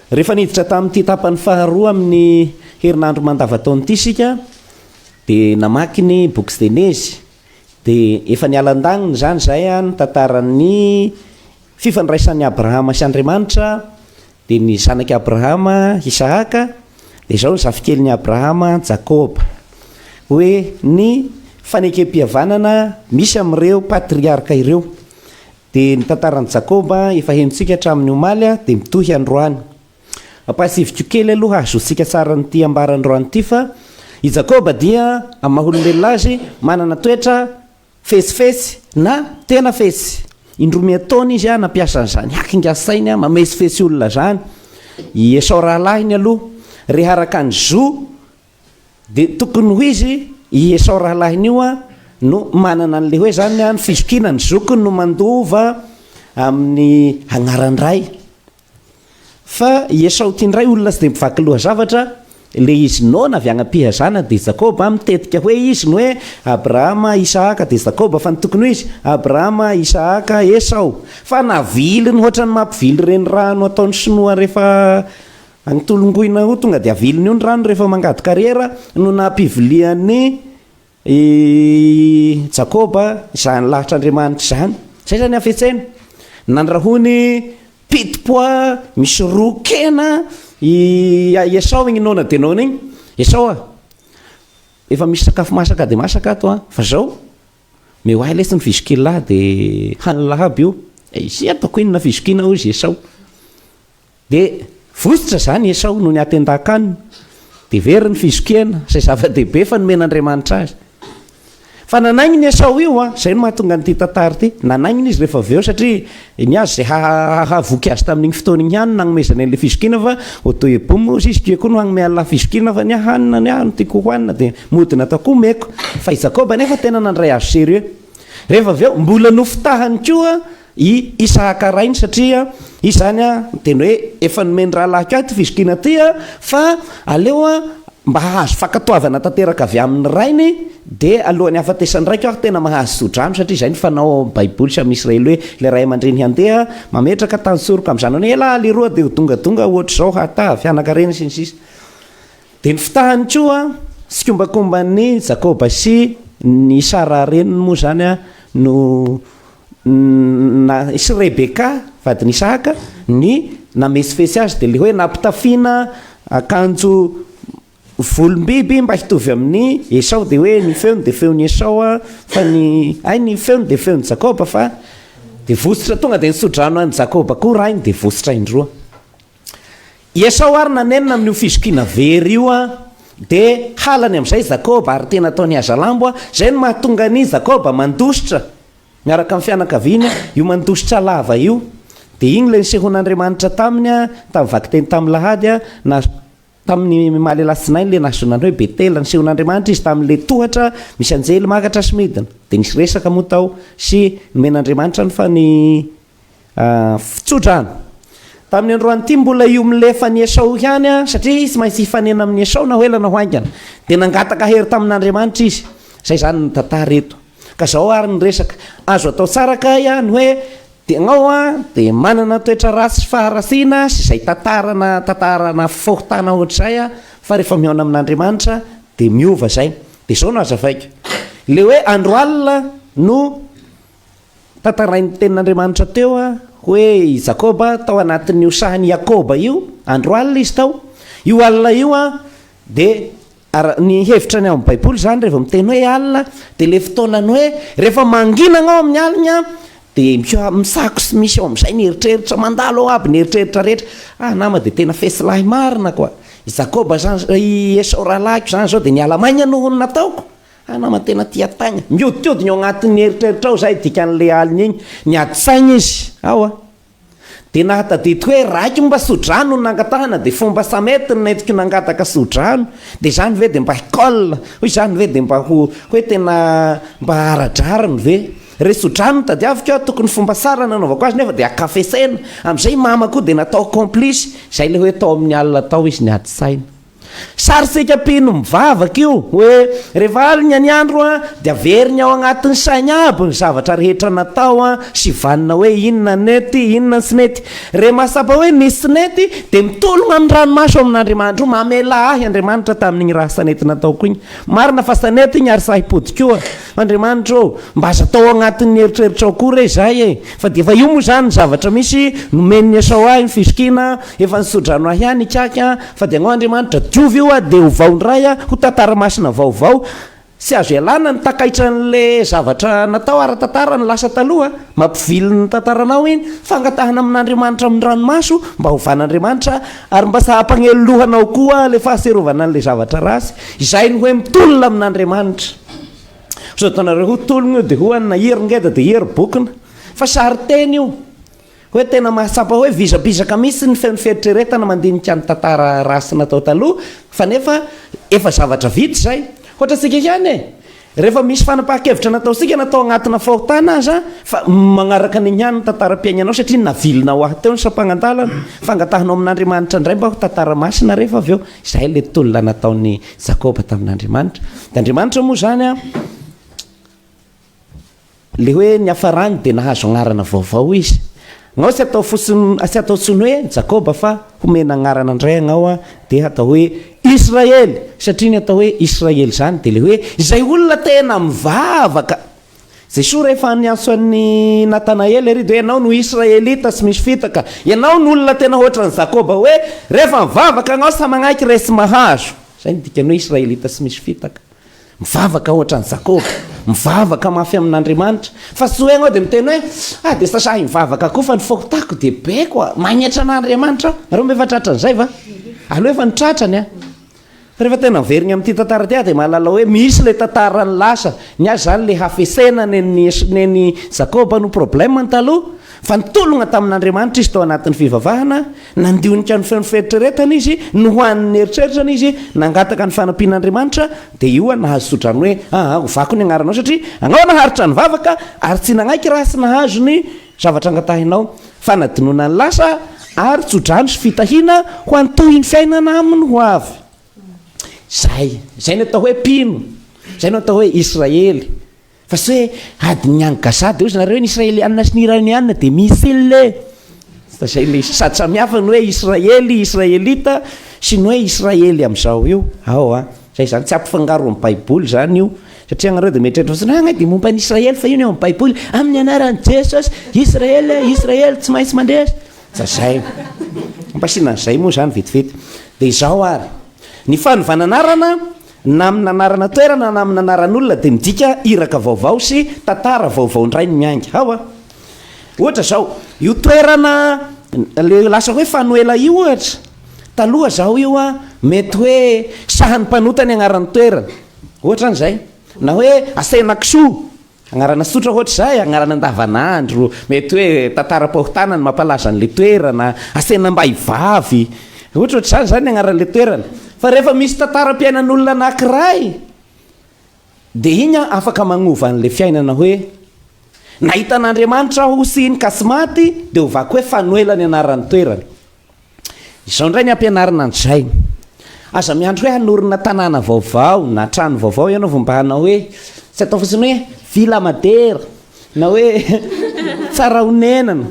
Rehefa niditra tamin'ity tapany faharoa amin'ny herinandro mandavataona ity isika dia namaky ny boky Genezy. Dia efa niala an-daniny izany izahay ny tantaran'ny fifandraisan'i Abrahama sy Andriamanitra Dia ny zanak'i Abrahama, Isahaka, dia izao ny zafikeliny Abrahama, Jakoba. Hoe ny fanekempihavanana misy amin'ireo patriarka ireo. Dia ny tantaran'i Jakoba efa henontsika hatramin'ny omaly dia mitohy androany. Ampahatsiviko kely aloha hahazoantsika tsara an'ity ambara androany ity fa i Jakoba dia, amin'ny maha olombelona azy, manana toetra Fetsifetsy na tena fetsy. Indroa miantaona izy an nampiasa an'izany hakinga sainy an mametsifetsy olona izany i Esao rahalahiny aloha reha araka ny zo dia tokony ho izy i Esao rahalahiny io an no manana an'ilay hoe izany an fizokiana ny zokiny no mandova amin'ny agnaran-dray Fa i Esao ity indray olona tsy dia mivaky lohazavatra, ilay izy noana avy hagnapiha zanany dia Jakoba, mitetika hoe izy ny hoe Abrahama, Isahaka dia Jakoba fa ny tokony ho izy, Abrahama, Isahaka, Esao. Fa naviliny hoatra ny mampivily ireny rano ataon'ny sinoa rehefa agny Tolongoina ho tonga dia aviliny io ny rano rehefa mangady kariera no nampivilian'i I Jakoba, izany lahitr'Andriamanitra izany. Izay izany hafetsena. Nandrahony piti-pois misy roa kena i Esao iny noana dia noana iny. Esao a! Efa misy sakafo masaka dia masaka ato an! Fa izao, omeo ahy lesy ny fizokilà dia hanina lahabo io. Izay ataoko inona fizokina hoy izy Esao. Dia vohitra izany i Esao noho ny atendan-kanina, dia very ny fizokena, izay zava-dehibe fa nomen'Andriamanitra azy. Fa nanaingina i Esao io, izay no mahatonga an'ity tantara ity. Nanaingina izy rehefa avy eo, satria ny azy izay hahavoky azy tamin'iny fotoana iny ihany no nanomezany an'ilay fizokina, fa Otoebomy hozy izy, Kue koa no hanome Allah fizokina, fa ny ahy hanina, ny ahy no tiako hohanina, dia mody natao koa omeko. Fa i Jakoba anefa tena nandray azy sérieux. Rehefa avy eo, mbola nofitahany koa I Isahaka rainy satria izy izany an dia ny hoe efa nomen'ny rahalahiko ahy ity fizokiana ity an fa aleo an mba hahazo fankatoavana tanteraka avy amin'ny rainy dia alohan'ny hahafatesan'ny raiko aho tena mahazo tsodrano satria izay ny fanao ao amin'ny baiboly sy amin'ny Israely hoe ilay ray aman-dreny handeha mametraka tantsoroka amin'ny zanany hoe ela aho leroa dia ho dongadonga ohatr'izao hataha fianakarena sy ny sisa dia ny fitahany koa tsikombakomban'ny Jakoba sy ny Sara reniny moa izany an no na sy Rebeka, vadin'Isahaka, ny namesifesy azy dia ilay hoe nampitafiana akanjo volom-biby mba hitovy amin'i Esao, dia hoe ny feony dia feon'i Esao fa ny ay ny feony dia feon'i Jakoba fa dia vositra tonga dia nisodrano an'i Jakoba koa rainy dia vositra indroa. I Esao àry nanenina amin'io fizokiana very io, dia halany amin'izay i Jakoba, ary tena ataony hazalambo. Izay no mahatonga an'i Jakoba mandositra miaraka amin'ny fianakaviany, io mandositra lava io. Dia iny ilay nisehoan'Andriamanitra taminy, tamin'ny vakiteny tamin'ny alahady, na tamin'ny maha lehilahy tsinainy ilay nahazoana ny hoe Betela. Nisehoan'Andriamanitra izy tamin'ilay tohatra misy anjely makatra sy midina, dia nisy resaka moa tao, sy nomen'Andriamanitra ny. Ahh tsotra an! Tamin'ny androany ity mbola io milefa an'i Esao ihany an, satria tsy maintsy hifanena amin'i Esao na ho ela na ho haingana. Dia nangataka hery tamin'Andriamanitra izy. Izay izany ny tantara eto. Ka izao ary ny resaka. Azo atao tsara kay an ny hoe tegnao an dia manana toetra ratsy faharatsiana sy izay tantara na tantara na fahotana ohatr'izay an, fa rehefa mihaona amin'Andriamanitra dia miova izay. Dia izao no hazavaiko. Ilay hoe andro alina no Tantarain'ny Tenin'Andriamanitra teo hoe i Jakoba tao anatin'io sahan'i Iakoba io, andro alina izy tao. Io alina io dia, ara, ny hevitra ny ao amin'ny Baiboly izany raha vao miteny hoe alina dia ilay fotoanan'ny hoe rehefa manginana ao amin'ny alina dia mika, misako sy misy ao amin'izay ny eritreritra, mandalo ao aby ny eritreritra rehetra. Ah nama dia tena fesilahy marina quoi! I Jakoba izany, i Esao rahalahiko izany izao dia niala maina noho ny nataoko. Fa namana tena tia Tagna. Mihodinkodina eo agnatin'ny eritreritrao zay dikan'le alina igny, niady saigna izy ao a! De nahatadidy hoe raiko mba sodrano no nangatahana de fomba samety no nentiko nangataka sodrano, de zany ve de mba hikol? Hoy zany ve de mba ho hoe tena mba ara-drariny ve? Re sodrano no tadiaviko a, tokony fomba sara nanaovako azy nefa de akafesena, amzay i mama koa de natao complice, zay le hoe tao amin'ny alina tao izy niady saigna. Sarintsika mpino mivavaka io hoe rehefa alina ny andro dia averiny ao anatin'ny sainy aby ny zavatra rehetra natao sy vanona hoe inona nety, inona tsy nety. Re mahatsapa hoe nisy tsy nety dia mitologna amin'ny ranomaso amin'Andriamanitro, mamelà ahy Andriamanitra tamin'igny raha tsy nety nataoko igny. Marina fa tsy nety igny ary sahy himpody koa. Andriamanitra ô, mba aza atao ao anatin'ny eritreritrao koa re izay e! Fa dia efa io moa izany ny zavatra misy, nomen'i Esao ahy ny fizokiana, efa nisodrano ahy ihany Ikaky a! Fa dia angao Andriamanitra, diovy io a! Dia ovao indray a! Ho tantara masina vaovao. Tsy azo ialana ny takaitra an'ilay zavatra natao ara-tantara ny lasa taloha, mampivily ny tantaranao iny. Fangatahana amin'Andriamanitra amin'ny ranomaso mba hovan'Andriamanitra, ary mba sahy hampanelo loha anao koa ilay fahatsiarovana an'ilay zavatra ratsy, izay ny hoe mitolona amin'Andriamanitra. Sao dia nareo ho tologna io dia ho an'ny nahery ngeda dia hery bokona. Fa sarin-teny io. Hoe tena mahatsapa hoe vizabizaka mihitsy ny feon'ny fieritreretana mandinika ny tantara ratsy natao taloha fa nefa efa zavatra vita izay. Ohatra antsika ihany e, rehefa misy fanapahan-kevitra nataontsika na tao agnatina fahotana aza fa magnaraka an'igny ihany ny tantaram-piaignanao satria navilinao ahy teo ny sampangan-dalana, fangatahanao amin'Andriamanitra indray mba ho tantara masina rehefa avy eo. Izay ilay tolona nataon'i Jakoba tamin'Andriamanitra. Dia Andriamanitra moa izany an, le hoe niafarany dia nahazo anarana vaovao izy. Angao tsy atao fotsiny, tsy atao tsony hoe Jakoba fa homena anarana indray angao an, dia hatao hoe Israely. Satria ny atao hoe Israely izany dia le hoe izay olona tena mivavaka. Jesoa rehefa niantso an'i Natanaela ery dia hoe, Ianao no Israelita tsy misy fitaka, Ianao no olona tena hoatran'i Jakoba, hoe, Rehefa mivavaka anao sa manaiky re tsy mahazo. Izay no dikan'ny hoe Israelita tsy misy fitaka. Mivavaka hoatran'i Jakoba, mivavaka mafy amin'Andriamanitra, fa tsy hoe ianao dia miteny hoe, Ah dia sasahy mivavaka koa fa ny fahotako dia be koa, magnetra an'Andriamanitra aho. Nareo ve efa tratran'izay va? Aleo efa nitratrany an! Rehefa tena miverigna amin'ity tantara ity aho dia mahalala hoe misy ilay tantaran'ny lasa, ny ahy izany ilay hafesena nen'i Esa, nen'i Jakoba no problème-ny taloha, fa nitologna tamin'Andriamanitra izy tao anatin'ny fivavahana, nandinika ny feon'ny fieritreretany izy, nohanin'ny eritreritrany izy, nangataka ny fanampian'Andriamanitra, dia io nahazo tsodrano hoe, aa, hovako ny agnaranao satria agnao naharitra nivavaka, ary tsy nagnaiky raha tsy nahazo ny. Zavatra angatahinao, fanadinoana ny lasa ary tsodrano sy fitahiana ho an'ny tohin'ny fiainana amin'ny ho avy. Izay. Izay no atao hoe mpino. Izay no atao hoe Israely. Fa tsy hoe adin'ny any Gaza dia hoy zareo ny Israeliana sy ny Iraniana dia missile. Tsy dia izay ilay izy. Sady samihafa ny hoe Israely, Israelita sy ny hoe Israely amin'izao io. Ao an. Zay izany tsy ampifangaro amin'ny baiboly izany io satria ianareo dia mieritreritra fotsiny hoe angaha dia momba an'i Israely fa io ny ao amin'ny baiboly amin'ny anaran'i Jesosy Israely e Israely tsy maintsy mandresy fa zay ampasiana an'izay moa izany vetivety dia izao ary ny fanovana anarana na amin'ny anarana toerana na amin'ny anaran'olona dia midika iraka vaovao sy tantara vaovao indray ny miainga hao a ohatra izao io toerana le lasa hoe fanoela io ohatra Taloha zaho io an, mety hoe sahan'ny mpanota ny anaran'ny toerana, ohatra an'izay, na hoe Asenakisoa, anarana tsotra ohatra izay, anarana andavanandro, mety hoe tantaram-pahotana ny mampalaza an'ilay toerana, Asenambaivavy, ohatrohatr'izany izany ny anaran'ilay toerana. Fa rehefa misy tantaram-piainan'olona anankiray, dia iny an, afaka manova an'ilay fiainana hoe, nahita an'Andriamanitra aho sy iny ka tsy maty, dia hovako hoe Fanoela ny anaran'ny toerana. Izao indray ny ampianarina an'i Jaime, Aza miandry hoe hanorina tanàna vaovao na trano vaovao ianao vao mba hanao hoe, tsy atao fotsiny hoe villa madera na hoe tsara honenana,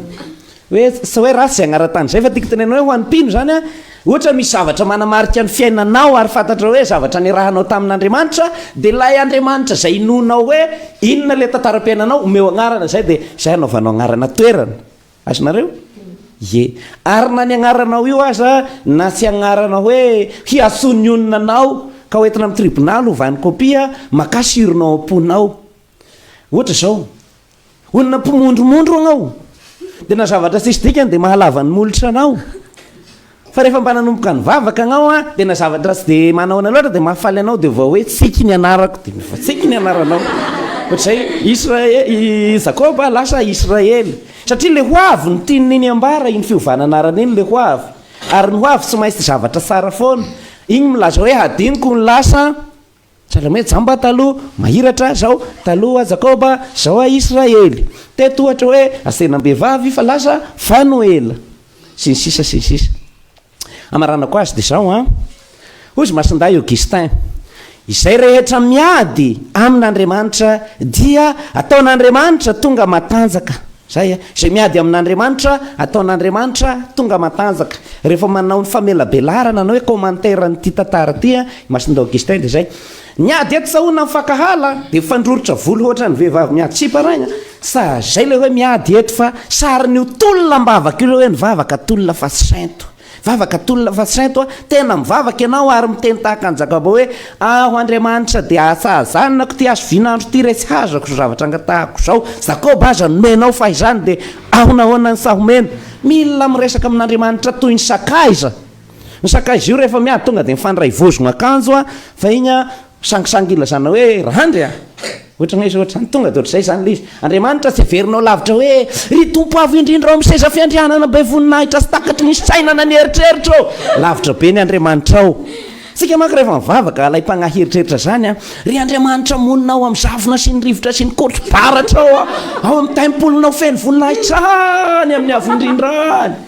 hoe tsy hoe ratsy izay anaran-tany izay fa tiako tenenana hoe ho an'ny mpino izany an, ohatra misy zavatra manamarika ny fiainanao ary fantatrao hoe zavatra niarahanao tamin'Andriamanitra dia ilay Andriamanitra izay inoanao hoe inona ilay tantaram-piainanao omeo anarana izay dia izay anaovanao anarana toerana. Azonareo? Ie. Ary na ny agnaranao io aza, na tsy agnarana hoe hiatsonionina anao ka hoentina amin'ny tribonaly hovany kopia, makà sironao am-ponao. Ohatra izao, olona mpimondromondro agnao, dia na zavatra tsisy dikany dia mahalava ny molotra anao. Fa rehefa mba nanomboka nivavaka anao an, dia na zavatra tsy dia manahoana loatra dia mahafaly anao dia vao hoe tsiky ny anarako dia mivatsiky ny anaranao. Ohatr'izay Israel, i Jakoba lasa Israely. Satria le ho avy no tian'ny neny ambara, iny fiovana anarana iny le ho avy. Ary ny ho avy tsy maintsy zavatra tsara foana. Iny milaza hoe hadinoko ny lasa Sahala amin'ny hoe jamba taloha, mahiratra, zao, taloha, Jakoba, zao, Israely. Teto ohatra hoe asenam-behivavy fa lasa Fanoela, sy ny sisa sy ny sisa. Hamaranako azy dia zao an, hoy izy Masindahy Augustin, izay rehetra miady amin'Andriamanitra dia ataon'Andriamanitra tonga matanjaka. Zay an, izay miady amin'Andriamanitra ataon'Andriamanitra tonga matanjaka. Rehefa manao ny famelabelarana na hoe commentaire an'ity tantara ity an, Masindahy Augustin dia izay niady eto sahona mifankahala dia mifandroritra volo hoatran'ny vehivavy miady sipa rainy a! sa izay ilay hoe miady eto fa sarin'io tolona am-bavaka io ilay hoe nivavaka tolona fa tsy sento vavaka tolona fa tsy sento a! tena mivavaka ianao ary miteny tahaka an'i Jakaba hoe aho Andriamanitra dia ahatsahazaninako ity hazovian'andro ity re tsy hazako izao zavatra angatahako izao Jakoba aza nomenao fa izany dia ahonahoana ny sahy omena mila miresaka amin'Andriamanitra toy ny sakaiza Ny sakaiza io rehefa miady tonga dia mifandray vozogna akanjo a, fa igny a sangisangy ilazana hoe randry a, ohatran'ny hoe ohatran'ny tonga dia ohatrizay zany le izy, Andriamanitra tsy heverinao lavitra hoe ry Tompo avo indrindra ao amin'ny seza fiandrianana be voninahitra sy takatry ny fisainana ny eritreritra ô! lavitra be ny Andriamanitra ao, tsika manko rehefa mivavaka alaim-pagnahy hieritreritra zany a, ry Andriamanitra monina ao amin'ny zavona sy ny rivotra sy ny kotro-baratra ao a, ao amin'ny tempolonao feno voninahitra any amin'ny avo indrindra any.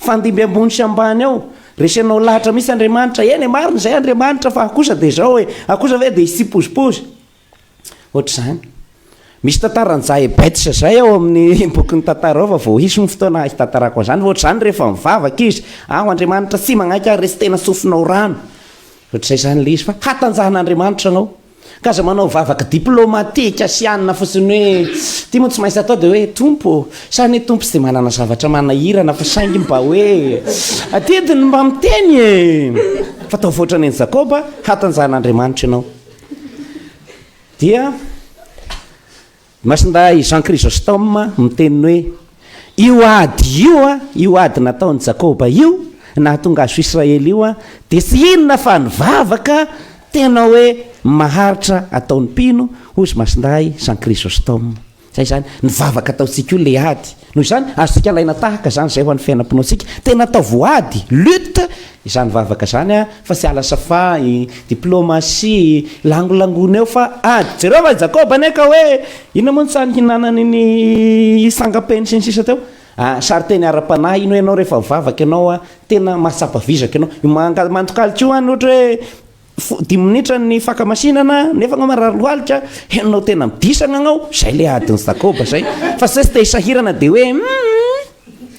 Fandimby ambony sy ambany ao. Resenao lahatra mihitsy Andriamanitra. Eny e, marina izay Andriamanitra fa akosa dia izao e. Akosa ve dia hisy tsipozipozy? Ohatr'izany. Misy tantaran'i Jahebetsa izay ao amin'ny bokin'ny tantara ao fa vao hisy ny fotoana hitantarako an'izany. Fa ohatr'izany rehefa mivavaka izy, aho Andriamanitra tsy magnaiky ary resy tena tsofinao rano. Ohatr'izay izany ilay izy fa hatanjahan'Andriamanitra anao. Ka aza manao vavaka diplomatique asiana fotsiny hoe ity moa tsy maintsy atao dia hoe Tompo ô, sa anie Tompo tsy dia manana zavatra manahirana fa saingy mba hoe adidy ny mba miteny e! Fa ataovy ohatrany an'i Jakoba, hatanjahan'Andriamanitra ianao. Dia. Masindahy Jean Chrysostome miteny hoe, Io ady io, io ady nataon'i Jakoba io, nahatonga azy ho Israely io, dia tsy inona fa ny vavaka tena hoe maharitra ataon'ny mpino, hoy Masindahy Jean Chrysostome. Izay izany, ny vavaka ataontsika io ilay ady. Noho izany, azontsika alaina tahaka izany izay ho an'ny fiainam-pinoantsika. Tena atao voady, lutte, izany vavaka izany fa tsy ala safai, diplomasia, langolangona eo fa ady. Jereo fa i Jakoba anie ka hoe inona moa ny tsara nihinanany ny sangam-peny sy ny sisa teo. Sarinteny ara-panahy iny hoe ianao rehefa mivavaka ianao, tena mahatsapa vizaka ianao. Mandokaloka io any ohatra hoe Dimy minitra ny fakamasinana nefa anao marary lohalika, henonao tena midisagna agnao, zay le adin'i Jakoba zay, fa zay tsy te hisahirana de hoe umm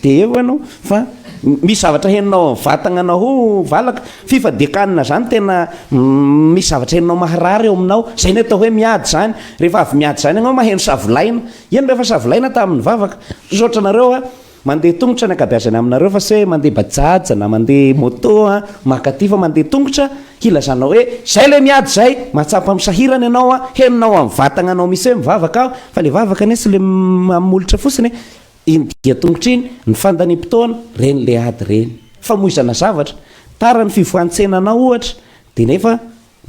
de eo anao fa misy zavatra henonao amin'ny vatagnanao ho valaka, fifadiakanina zany tena misy zavatra henonao maharary eo aminao, zay ny atao hoe miady zany, rehefa avy miady zany agnao maheno savolaina, ino rehefa savolaina tamin'ny vavaka, misaotra anareo a. Mandeha tongotra ny ankabeazany aminareo fa se mandeha bajaja na mandeha moto a! Mankaty fa mandeha tongotra hilazanao hoe zay le miady zay! Mahatsapa amin'ny sahirana ianao a! Henonao amin'ny vatagnanao misy hoe mivavaka aho fa le vavaka anie tsy le amin'ny molotra fotsiny e! Iny dia tongotra iny, ny fandaniam-potoana, reny le ady reny! Famoizana zavatra! Tara ny fivohan-tsenanao ohatra dia nefa.